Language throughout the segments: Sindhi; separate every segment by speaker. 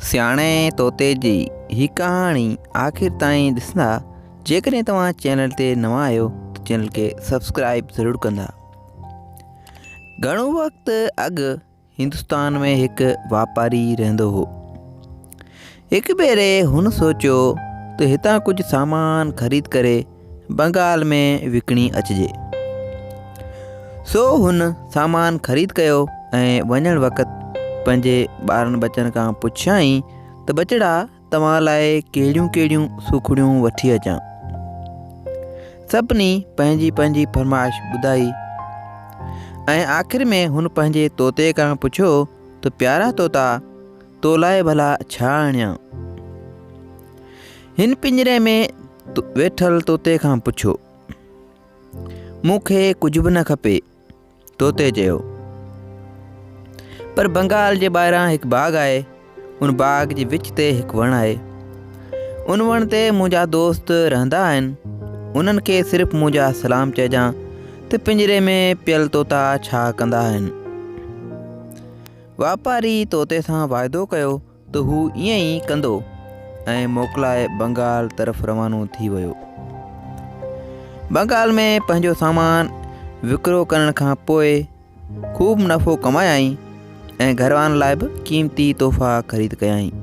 Speaker 1: سياڻي طوطي جي هي ڪهاڻي آخر تائين ڏسندا جيڪڏهن توهان چينل تي نوان آهيو ته چينل کي سبسڪرائب ضرور ڪندا گهڻو وقت اڳ هندستان ۾ هڪ واپاري رهندو هو هڪ ڀيري هن سوچيو ته هتان ڪجهه سامان خريد ڪري بنگال ۾ وڪڻي اچجي. سو هن سامان خريد ڪيو ۽ وڃڻ وقت پنهنجي ٻارن ٻچن کان پڇيائين ته ٻچڙا توهان لاء ڪهڙيون ڪهڙيون سوکڙيون وٺي اچان سڀني پنهنجي پنهنجي فرمائش ٻڌائي ۽ آخر ۾ هن پنهنجي طوطي کان پڇيو ته پيارا طوطا تو لاء ڀلا ڇا آڻيان؟ هن پڃري ۾ ويٺل طوطي کان پڇيو مون کي ڪجهه به نه کپي طوطي چيو پر بنگال جي ٻاهران هڪ باغ آهي ان باغ جي وچ تي هڪ وڻ آهي ان وڻ تي منهنجا دوست رهندا آهن انهن کي صرف منهنجا سلام چئجان ته پڃري ۾ پيل طوطا ڇا ڪندا آهن واپاري طوطي سان واعدو ڪيو ته هو ائين ئي ڪندو ۽ موڪلائي بنگال طرف روانو ٿي ويو. بنگال ۾ پنهنجو سامان وڪرو ڪرڻ کان پوء خوب منافعو ڪمايائين ۽ گهروارن لاء به قيمتي تحفا خريد ڪيائين.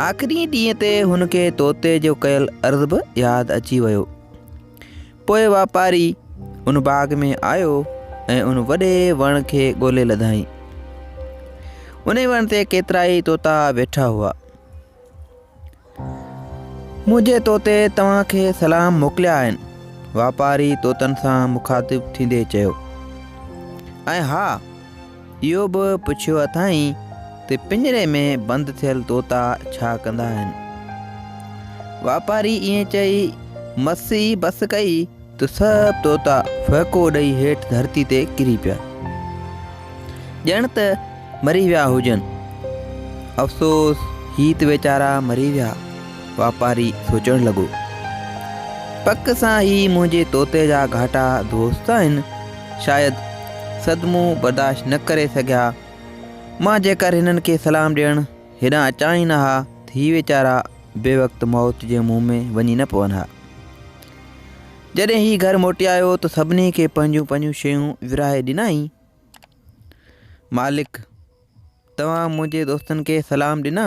Speaker 1: آخري ڏينهن تي هن کي طوطي جو ڪيل عرض به ياد اچي ويو. پوء واپاري ان باغ ۾ آيو ۽ ان وڏي وڻ کي ڳولي لڌائين ان وڻ تي ڪيترائي طوطا ويٺا هئا منهنجي طوطي توهان کي سلام موڪليا آهن واپاري طوطن سان مخاطب ٿيندي چيو ۽ ها اهو به پڇيو اٿائين ته پڃري ۾ بند ٿيل طوطا ڇا ڪندا آهن؟ واپاري ائين چئي مس ئي بس ڪئي ته سڀ طوطا ڦهڪو ڏئي هيٺ ڌرتي تي ڪري پيا. ڄڻ ته مري ويا هجن. افسوس هي ته ويچارا مري ويا. واپاري سوچڻ لڳو. پڪ سان هي منهنجي طوطي جا گهاٽا دوست آهن. شايد صدمو برداشت نه ڪري سگهيا. مان جيڪر هنن کي سلام ڏيڻ هيڏانهن اچان ئي نه ها ته هي ويچارا بي وقت موت جي منهن ۾ وڃي نه پون ها. جڏهن هي گهر موٽي آيو ته سڀني کي پنهنجون پنهنجون شيون ورهائي ڏنائين. مالڪ، توهان منهنجي دوستن کي سلام ڏنا؟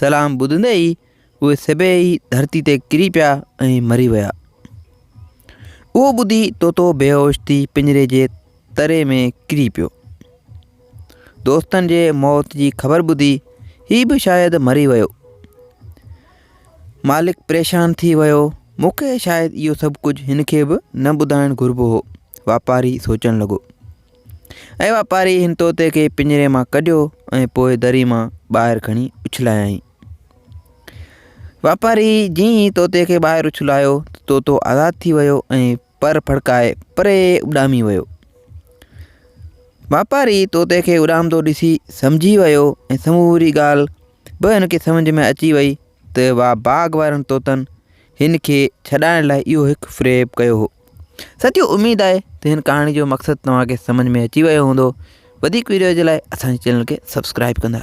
Speaker 1: سلام ٻڌندي ئي اهي سڀيئي ڌرتي تي ڪري پيا ۽ مري ويا. اهو ٻڌي طوطو بيهوش ٿي پڃري جي تري ۾ ڪري پيو. دوستن جي موت جي خبر ٻڌي هي به شايد مري ويو. مالڪ پريشان ٿي ويو مون کي شايد اهو سڀ ڪجهه هن کي به نه ٻڌائڻ گهربو هو واپاري سوچڻ لڳو ۽ واپاري هن طوطي کي پڃري مان ڪڍيو ۽ پوء دري مان ٻاهر کڻي اڇلايائين واپاري جيئن ئي طوطي کي ٻاهر اڇلايو طوطو آزاد ٿي ويو ۽ پر ڦڙڪائي پري اڏامي ويو واپاري طوطي کي اڏامندو ڏسي سمجهي ويو ۽ سموري ڳالهه به هن کي سمجھ ۾ اچي وئي ته وا باغ وارن طوطن هن کي ڇڏائڻ لاء اهو هڪ فريب ڪيو هو ساتھيو اميد آهي ته هن ڪهاڻي جو مقصد توهان کي سمجھ ۾ اچي ويو هوندو وڌيڪ ويڊيو جي لاء اسان جي چينل کي سبسڪرائب ڪندا